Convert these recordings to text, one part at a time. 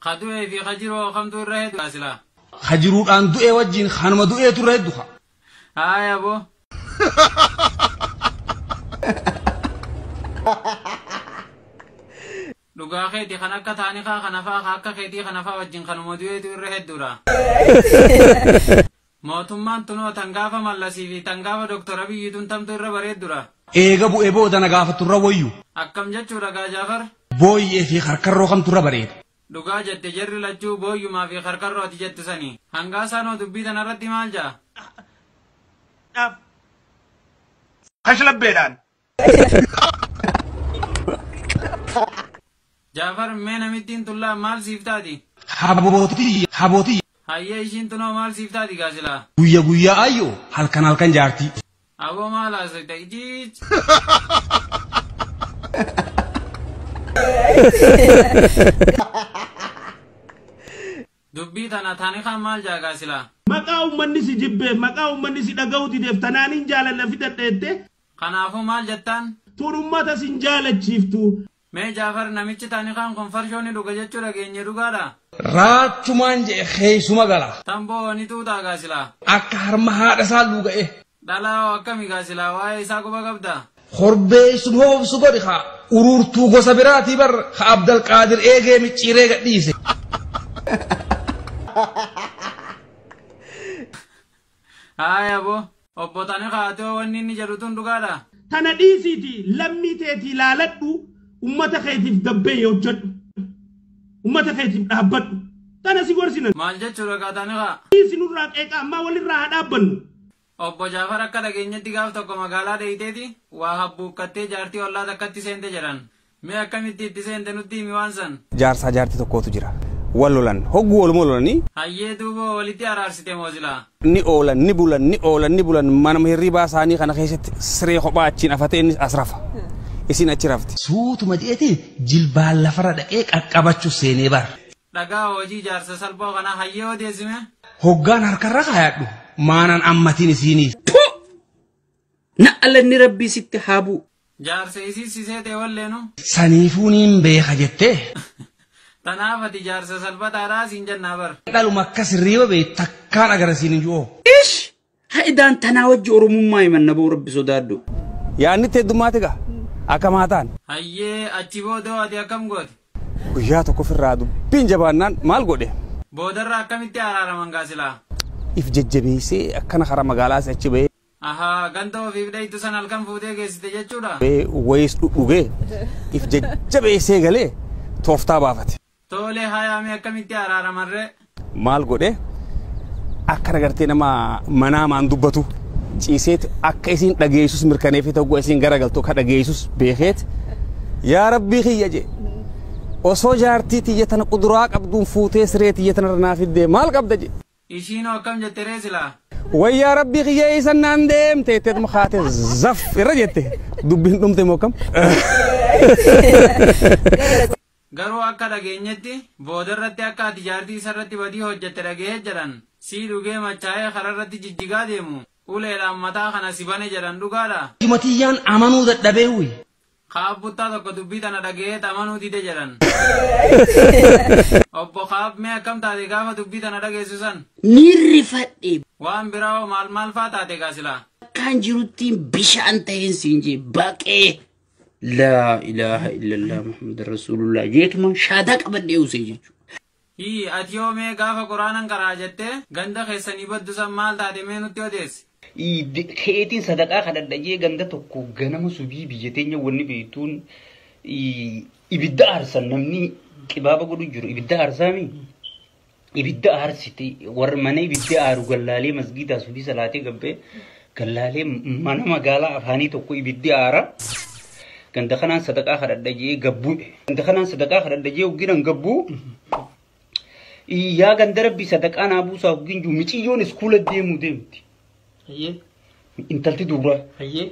Ka du'ee fi ka jiroo kamtu irra hedu kaa silaa. Ka jiruudhaan du'ee wajjiin kanuma du'eetu irra heddu ka. Haaya aboo. Dhugaa keeti kan akka taanikaa kanafaa ka akka keetii kanafaa wajjin kanuma du'eetu irra hedduudha. Mootummaan tunoo tan gaafa Mallasii fi tan gaafa Dr. Abiyyi tun tamtu irra bareeddudha? Eega bu'e booda na gaafattu irra woyyu? Akkam jechuudha gaa Jaafar? Booyyee fi karkarroo kamtu irra bareeda? Dhugaa jette jarri lachuu booyyumaa fi karkarroo ati jettu sani. Hangaasaan hoo dubbii tana irratti maal ja'a? Kashlabbeedhaan Jaafar mee namittiin tullaa maal siif taati? Habootii habootii Hayyee ishiin tunoo maal siif taati gaa silaa? guyya guyyaa ayyoo halkan halkan jaartii. Aboo maal haasofta ijiij? Dubbii tana tani kan maal jaa gaa silaa? Maqaa ummanni si jibbeef, maqaa ummanni si dhaga'uu dideef tanaanin jaalanna fidadha jettee Kanaafuu maal jettaan? Tun ummata sin jaalachiiftu. Mee Jaafar namichi taanikaan kun farshoo ni dhuga jechuu dhageenye dhugaadha? Raachumaan je'e keeysuma gala. Tamboo hoo ni xuuxaa gaa silaa? Akka harma haadha isaa luuga'e. Dhalaa hoo akkami gaa silaa waa'ee isaa quba qabda? Korbeeysum hoobsu godhi kaa. Uruurtuu gosa biraatii bar ka Abdalqaadir eegee micciiree gad dhiise. Haaya aboo obbo Xanikaatoo wanni inni jedhu tun dhugaadha? Tana dhiisiiti lammii teetii laaladhu ummata keetiif gabbeeyi hojjadhu. Ummata keetiif dhaabbadhu. Tana si gorsina. Maal jechuudha kaa Xanikaa? Dhiisi nurraa qeeqa ammaa walirraa haa dhaabbannu. Obbo Jaafar akka dhageenyetti gaaf tokko magaalaa dheeyteeti waa habbuukkattee jaartii ollaa takkatti seente jedhan. Mee akkamitti itti seente nutti himi waan san. Jaarsaa jaarti tokkootu jira. Wal lolan. Hogguu waluma lolani. Hayyee duuboo walitti araarsite moo silaa. ni oolan ni bulan ni oolan ni bulan manuma hirribaa saanii kana keessatti siree kophaa achiin afate innis as rafa. Isiin achi rafti. Suutuma je'eeti jilbaan lafarra dhaqee qaqqabachu seenee bar. Dhagaa hoojii jaarsa salphoo kanaa hayyee odeessi mee. Hoggaan harkarra kaayadhu maanan ammatiin isiinii. Na'alanni rabbii sitti haa bu. Jaarsa isii si seete wallee nu. Saniifuu niin beeka jettee. Tanaaf ati jaarsa salphataadhaa siin jennaa bar. Dhaluma akkas hirriiba beeytu takkaan agarre siin hin ju'oo. Ish! Ha'idaan tanaa wajji oromummaa himanna boo rabbi sodaadhu. Yaanni itti heddummaate gaa akkam haa taanu. Hayyee achi booda hoo ati akkam goote? Guyyaa tokkof irraa dubbiin jabaannaan maal godhe? Boodarra akkamitti araaraman gaa silaa? If jajjabeessee akkana karaa magaalaas achi bahee. Ahaa ganda ofiif dhayxu san halkan fuutee geessite jechuudha? Mee wayiis dhudhugee if jajjabeessee galee tooftaa baafate. Toolee hayaa mee akkamitti araaramarree? Maal godhee akkana gartee nama manaamaan dubbatu ciiseet akka isiin dhageessus mirkaneefii ta'uu isiin garagaltu akka dhageessus beekeet yaa rabbii kiyya jee osoo jaartii tiyya tana quduraa qabduun fuutee siree tiyya tanarra naa fiddee maal qabda jee. Ishiinoo akkam jette ree silaa? Way yaa rabbii kiyya eeysan naan deemte jetteetuma kaate zaf irra jette dubbiin dhumte moo kam? Garuu akka dhageenyetti boodarratti akka ati jaartii isarratti badii hojjette dhagahee jedhan sii dhugee machaa'ee kararratti jijjigaa deemu uleedhaan mataa kana si bane jedhan dhugaadha? Ijuma tiyyaan amanuu dadhabee uyi. Ka'ab buttaa tokko dubbii tana dhagaheet amanuu dide jedhan. Obbo Ka'ab mee akkam taate gaafa dubbii tana dhageessu san? Niin rifadhe. Waan biraa hoo maal maal faa taate gaa silaa? Akkaan jiruttiin bishaan ta'een siin jee baqee. Laa ilaaha illallah Muhammad Rasuulullah jeetumaan shaadaa qabadhee usee jechuudha. Hii atiyoo mee gaafa quraanan qara'a jettee ganda keessanii baddu san maal taate mee nutti odeessi. Iid keetiin sadaqaa kadhadha jee ganda tokko ganama subii biyya teenya wanni beeytuun ibidda aarsan namni qibaaba godhu jiru ibidda aarsaami ibidda aarsite warra mana ibidda aaru gallaalee masgiidaa subii salaatee gabbee Gallaalee mana magaalaa afaanii tokko ibiddi aara. Ganda kanaan sadaqaa kadhadha jee gabbu'e. Ganda kanaan sadaqaa kadhadha jee hogginan gabbuu. Yaa ganda rabbi sadaqaa naa buusaa hoggin juu miciyyoon iskuula deemu deemti. Ayyee. Intalti duuraa. Ayyee.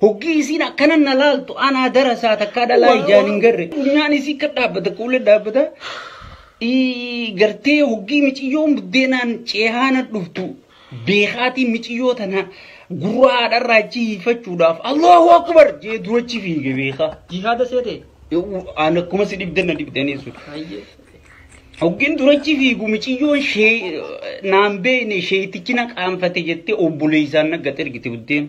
Hoggii isiin akkana na laaltu anaa darasaa takkaa dhalaa ijaan hin garre. Funyaan isii akka dhaabbata kuula dhaabbata. Ii, Gartee hoggii miciyyoon buddeenaan ceehaana dhuftu beekaatii miciyyoo tana gurraa haadharraa achi hiifachuudhaaf Allahu Akbar jee durachi fiige beekaa. Jihaada seete. Aan akkuma si dhibdan na dhibdanii sun. Hayyee. Hoggin durachi fiigu miciyyoon shee naan beekne sheetichi na qaanfate jettee obboleessaan na gad ergite buddeen.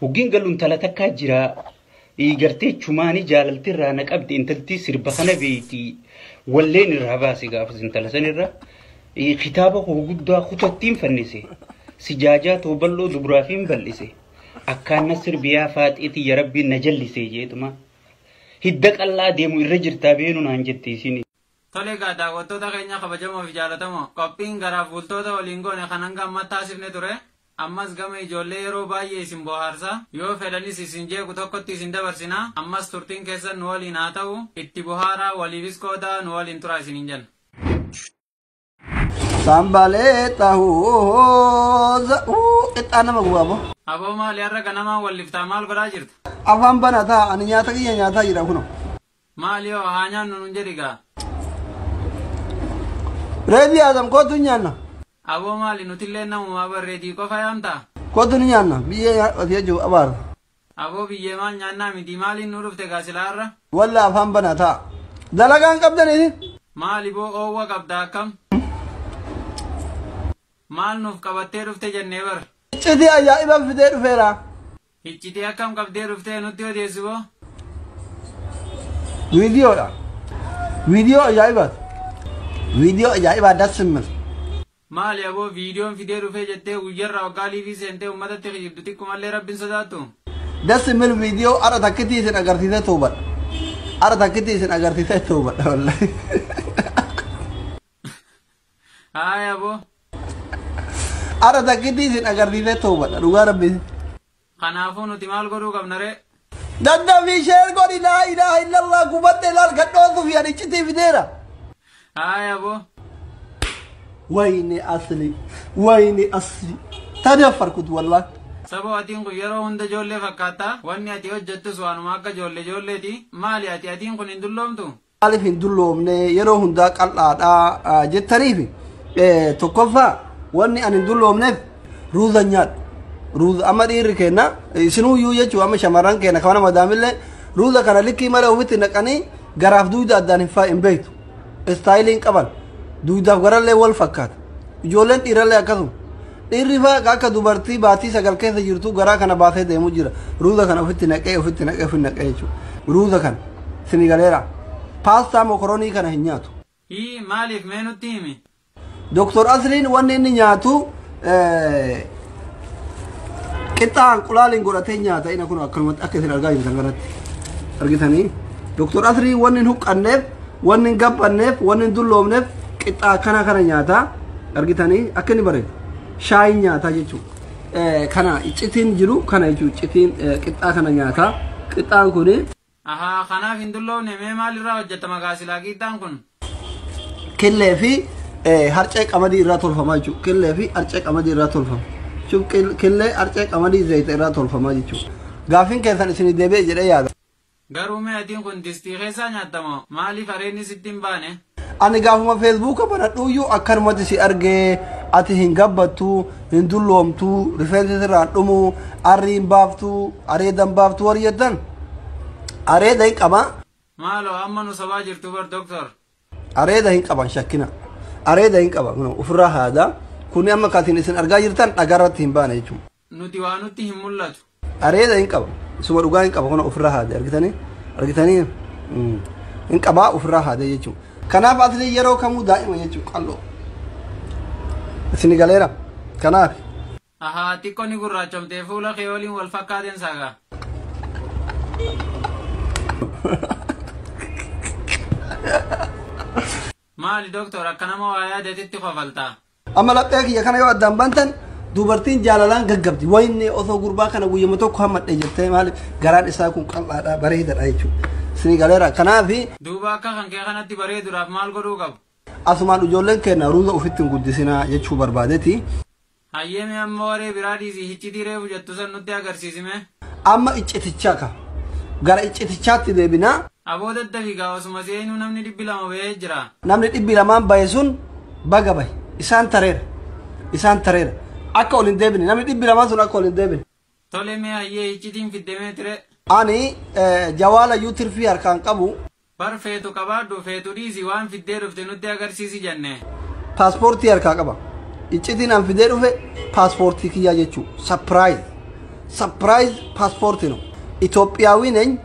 Hoggiin galu intala takkaa jira. Gartee chumaanii jaalalti irraa na qabdi intalti sirba kana beeyti. Walleen irraa baase gaafas intala san irra. Kitaaba koo guddaa kutattiin fannise. Sijaajaa too bal'oo dubraafiin bal'ise. Akkaan na sirbiyaa faaxee tiyya rabbiin na jallisee jeetuma. Hidda qal'aa deemu irra jirtaa beenu naan jette isin. Tole egaa daawwattoota keenya kabajamoo fi jaalatamoo qophiin garaaf bultoota waliin goone kan hanga ammaa taasifne ture. Ammas gama ijoollee yeroo baay'ee isin bohaarsa, yoo fedhanis isin jeequ tokkotti isin dabarsina, ammas turtiin keessan nu waliin haa ta'u, itti bohaaraa, waliifis qoodaa, nu waliin turaa isiniin jenna. Sanbaleexa hooza uu qixxaa nama gubaa boo. Aboo maali har'a ganamaan wal liftaa maal godhaa jirta? Afaan banataa ani nyaata kiyya nyaataa jira kunoo. Maali hoo haa nyaannu nun jedhi gaa. Reedii Adam kootu hin nyaanna. Aboo maali nutillee namumaa bar reedii qofa yaamtaa. Kootu ni nyaanna biyyee nyaadhu ati jechuuf abaara. Aboo biyyee maal nyaannaa mitii maaliin nuu dhufte gaa silaa har'a. Wallah afaan banaa taa. Dalagaa hin qabdanii isin. Maali boo oowwa qabda akkam. Maal nuuf qabattee dhufte jennee bar. Iccitii ajaa'ibaan fidee dhufeera. Hiccitii akkam qabdee dhuftee nutti odeessi boo. Viidiyoodha. Viidiyoo ajaa'ibaati. Viidiyoo ajaa'ibaa das simmil. Maali aboo viidiyoon fidee dhufee jettee guyyarraa waggaa liivii seentee ummatatti kijibdu xiqqumallee rabbiin sodaattu. Das simmil viidiyoo ara takkitii isin agarsiisee toobadha. Ara takkitii isin agarsiisee toobadha wallahi. Haaya boo. Ara takkitti isin agarsiisee toobadha dhugaa rabbi. Kanaafuu nuti maal godhuu qabna ree? Daddafii sheer godhi laa ilaaha illallah gubatte laal gadhoosuuf yadichitii fideera. Haaya boo. Wayne asli wayne asli tadaffarkut wallah. Saboo atiin kun yeroo hunda ijoollee fakkaattaa wanni ati hojjettus waanuma akka ijoollee ijoolleeti maali ati atiin kun hin dulloomtu maaliif hin dulloomne yeroo hundaa qal'aadha ah, jettaniif eh, tokkoffaa wanni ani hin dulloomneef ruuza nyaadhu ruuza amma dhiirri keenna eh, isinuu iyyuu jechuun amma shamarran keenya kan nama daamillee ruuza kana likkii malee ofitti naqanii garaaf duuda addaan hin faa hin beektu istaayilii hin qaban duudaaf garallee wal fakkaata ijoolleen dhiirallee akkasuma Dhiirri faa akka dubartii baatii sagal keessa jirtuu garaa kana baasee deemu jira. Ruuza kana ofitti naqee ofitti naqee ofitti naqee jechuudha. Ruuza kana sini galeera. Paastaa mokoronii kana hin nyaatu. Hii maaliif mee nutti himi. Doktor Asliin wanni inni nyaatu qixxaa hanqulaaliin godhatee nyaata ina kun akkanumatti akka isin argaa jirtan kanatti argitanii Doktor Asliin wanni hin huqqanneef Wanni hin gabbanneef, wanni hin dulloomneef qixxaa akkanaa kana nyaata. Argitanii akka inni bareedu. Shaayiin nyaataa jechuudha. Eh, Kana iccitiin jiru kana jechuudha. Iccitiin eh, qixxaa kana nyaata. Qixxaan kuni Ahaa kanaaf hin dulloofne mee maalirraa hojjetama kaa silaa qiixxaan kun? killee fi eh, harcee qamadii irraa tolfama jechuudha. Killee fi harcee qamadii irraa tolfama. Jechuun kil- Killee harcee qamadii zayita irraa tolfama jechuudha. Gaaffiin keessan isinii deebi'e jedhee yaada. Garuu mee adiin kun distii keessaa nyaatta moo maaliif areenni sitti hin baane? Ani gaafuma feesbuuka banadhuuyyuu akkanumatti si argee ati hin gabbattu, hin dulloomtu, rifeensi sirraan dhumu, arri hin baaftu, areeda hin baaftu warri jettan areeda hin qaba. Maaloo amma nu sobaa jirtu bar doktor. Areeda hin qaban shakkina. Areeda hin qaba ofirraa haada. Kuni amma katiin isin argaa jirtan dhagaarratti hin baane jechuudha. nuti waa nutti hin mul'atu. Areeda hin qaba. Isuma dhugaa hin qaba kun ofirraa haade argitanii argitanii hin qabaa ofirraa haade jechuudha. Kanaaf atlee yeroo kamuu daa'ima jechuudha qal'oo. Isin galeera kanaaf. Ahaa xiqqoo ni gurraachomtee fuula kee waliin wal fakkaateen saagaa. Maali doktor akka nama waa yaadatitti kofaltaa? Amma laphee kiyya kana yoo addaan bantan dubartiin jaalalaan gaggabdi. Wayne osoo gurbaa kana guyyama tokko hammadhe jettee maali garaan isaa kun qal'aadha bareedadha jechuudha. Isinii galeera. Kanaafi Duuba akka kan kee kanatti bareeduudhaaf maal godhuu qabu? asumaan ijoolleen keenya ruuza ofitti hin guddisinaa jechuu barbaadeti. Hayyee mee amma waree biraa dhiisii hiccitii reefu jettu san nutti agarsiisime. Amma iccitichaa ka. Gara iccitichaatti deebinaa. Aboo daddafi gaa osuma seenuu namni dhibbi lama bahee jira. Namni dhibbi lamaan bahe sun baga bahe. Isaan tareera. Isaan tareera. Akka ol hin deebine. Namni dhibbi lamaan sun akka ol hin deebine. Tole mee hayyee hiccitiin fidde mee tire. Ani jawaala iyyuu tirfii harkaa hin qabu. Bar feetu qabaadhu feetu dhiisi waan fiddee dhufte nutti agarsiisi jenne. Paaspoortii harkaa qaba. Iccitiin an fidee dhufe paaspoortii kiyyaa jechuu. Sapiraayiz. Sapiraayiz paaspoortii no. Itoophiyaawii neny.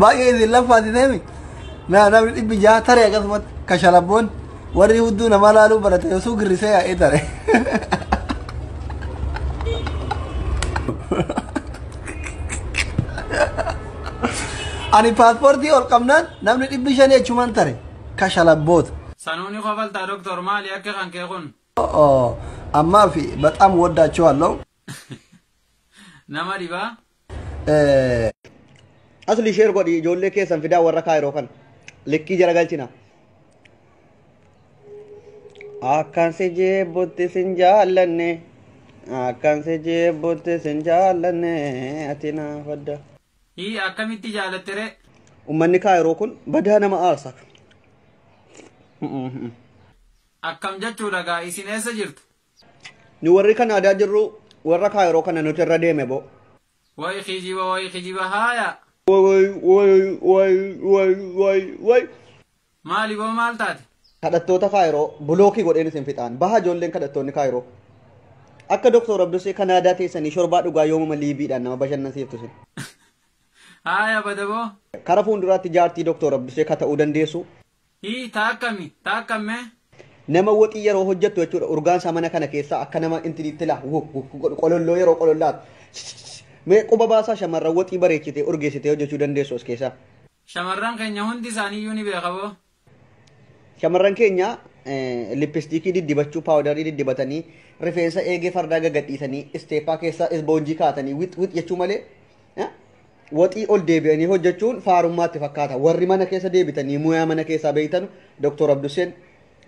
Baay'ee isin laffaati deemi. Naa namni dhibbi jaha tare akkasumatti kashalabboon warri hudduu namaa laaluu barate osoo girrisee yaa'ee tare. Ani paaspoortii ol qabnaan namni dhibbi shanii achumaan tare kashalabboota. Sanuuni kofaltaa doktor maali akka kan kee kun? Ammaa fi baxaam waddaachuu halloo. Nama dhibaa. Asli sheer godhi ijoollee keessan fidaa warra kaayiroo kan likkii jala galchina. Akkan si jeebbutti sin jaallanne akkan si jeebbutti sin jaallanne ati naaf adda. Hii akkamitti jaalatte ree? Ummanni kaayiroo kun badaa nama aarsa. Akkam jechuudha gaa isin eessa jirtu? Nu warri Kanaadaa jirru warra Kaayiroo kana nuti irra deeme boo. Way kijiba way kijiba haaya. Way way way way way way. Maali boo maal taate? Kadhattoota Kaayiroo bulookii godheen isin fixaan. Baha ijoolleen kadhattoonni Kaayiroo. Akka Doktor Abdusee Kanaadaa teessanii shorbaa dhugaa yoomuma liibiidhaan nama bashannansiiftu isin. Haaya bada boo. Kara fuulduraatti jaartii Doktor Abdusee ka ta'uu dandeessu. Hii taa akkami taa akkam mee. Nama woxii yeroo hojjettu jechuudha urgaan isaa mana kana keessaa akka nama intiniitti laa wu wu godhu qololloo yeroo qolollaatu mee quba baasaa shamarran woxii bareechitee urgeessitee hojjechuu dandeessu as keessaa. Shamarran keenya hundi isaaniiyyuu ni beeka boo. Shamarran keenya lippistiikii diddibachuu paawudarii diddibatanii rifeensa eegee fardaa gagadhiisanii isteeppaa keessaa isboonjii kaatanii wix wix jechuu malee Waxii ol deebi'anii hojjechuun faarummaa itti fakkaata. Warri mana keessa deebitanii muyaa mana keessaa beektanu Doktor Abdusseen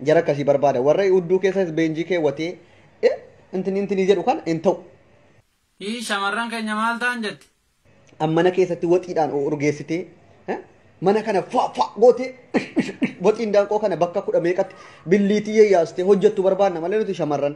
jara akkasii barbaada. Warra udduu keessa isbeenjii keewwatee eh, intinii intinii jedhu kana hin ta'u. Hii shamarran keenya maal ta'an jette? An mana keessatti waxiidhaan urgeessitee eh, mana kana faa faa gootee waxiin daanqoo kana bakka kudha meeqatti billiitii yayyaastee hojjettu barbaadna malee nuti shamarran.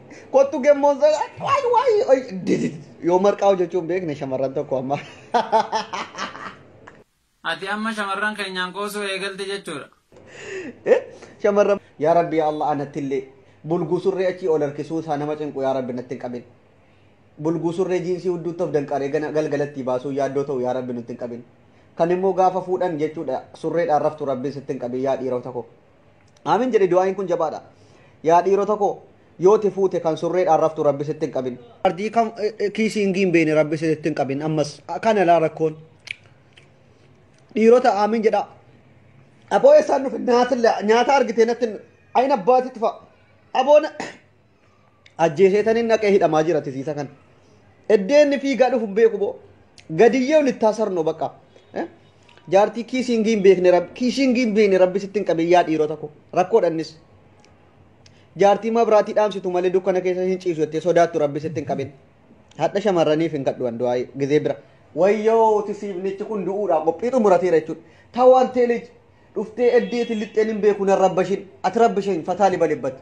Kottu gemmoon sana waay waay waay didid yoo marqaa hojjechuun beekne shamarran tokko amma. Ati amma shamarran keenyaan qoosuu eegalte jechuudha. Eh, Shamarran yaa rabbi yaa Allah anattillee bulguu surree achii ol harkisuu isaa nama cinqu yaa rabbi natti hin qabin. Bulguu surree jiinsii hudduutti of danqaree gana- galgalattii baasuu yaaddoo ta'u yaa rabbi nutti hin qabin. Kan immoo gaafa fuudhan jechuudha surreedhaan raftu rabbiin sitti hin qabin yaa dhiirota koo. Aamin jedhe du'aayin kun jabaadha. Yaa dhiirota koo yoo ti fuute kan surreedhaan raftu rabbi sitti hin qabin. Ardii kan kiisii hin giimbeene rabbi sitti hin qabin ammas kana laa rakkoon. Dhiirota aamin jedha. Aboo eessaan dhufe nyaata argitee natti hin ayina abbaatitti fa'a. Aboo Ajjeeseetanin naqee hidhamaa jira tisiisa kan. Eddeenni fiigaa dhufu hin beeku boo. Gadiyyee olittaa sarno bakka. Eh? Jaartii kiisingii hin beekne rabbi kiisingii hin beekne rabbi sitti hin qabin yaa dhiirota koo rakkoodha innis. Jaartii mabraatii dhaamsitu malee dukkana keessa hin ciisu jettee sodaattu rabbi sitti hin qabin. Hadha shamarraniif hin kadhu an du'aa gizee bira. Wayyoo tisiifnichi kun du'uudhaa qophii xumurateera jechuudha. Tawaan teelij dhuftee eddeetiin lixxeen hin beeku nan rabbashin ati rabbishin fataa libalibbatte.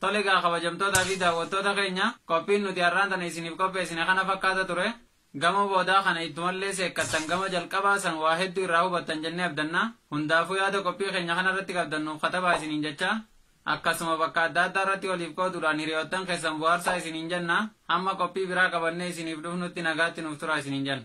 Tole egaa kabajamtootaa fi daawwattoota keenya qophiin nuti har'aan tana isiniif qopheessine kana fakkaata ture. Gamoo boodaa kana ittumallee seekkattan gama jalqabaa san waa hedduu irraa hubattan jennee abdanna. Hundaafuu yaada qophii keenya kana irratti qabdan nuuf katabaa isiniin jechaa akkasuma bakka adda addaa irratti waliif qooduudhaan hiriyoottan keessan bohaarsaa isiniin jenna. Hamma qophii biraa qabannee isiniif dhufnutti nagaatti nuuf turaa isiniin jenna.